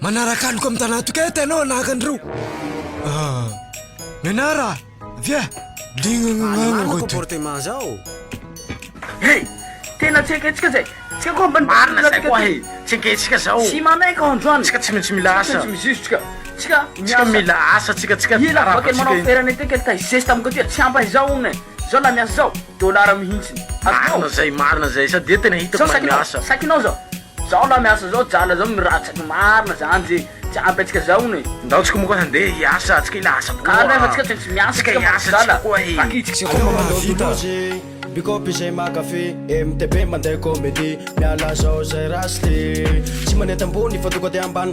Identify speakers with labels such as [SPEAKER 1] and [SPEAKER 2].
[SPEAKER 1] Manaraka aloka amin'ny tanatoka eto ianao anahaka an'ireo. Ah, mianara, via, dingangangangangoto. Alemana porte manza
[SPEAKER 2] ao.
[SPEAKER 3] Hey, tena tsy eketsika zay. Tsika koa ambany marina zay koa hey.
[SPEAKER 2] Tsy eketsika zao. Tsy manaiky androany.
[SPEAKER 3] Tsika tsy maintsy mila asa. Tsy
[SPEAKER 2] maintsy mizizotsika. Tsika miasa.
[SPEAKER 3] Tsika mila asa,
[SPEAKER 2] tsika tsika. Ila vaky manao ferana
[SPEAKER 3] ity kely tay zesta amiko aty. Tsy ampy izao hono e. Zao la miasa zao. Dollars mihintsiny. Marina zay, marina
[SPEAKER 2] zay. Sady tena hitako miasa. Sakinao zao.
[SPEAKER 3] Zao lah miasa zao jala zao miratsaky marina zany ze tsy ampy atsika zao hono e. Ndao tsika moa koa handeha
[SPEAKER 2] hiasa atsika ila asa koa Kara nefa tsika tsy maintsy
[SPEAKER 3] miasa tsika hiasa atsika koa
[SPEAKER 2] e. Vakitsika koa mahavita.
[SPEAKER 4] Bikôpy izay mankafy MTP mandeha comédie Miala zao zay raha sly Tsy manenty ambony fa tonga de ambany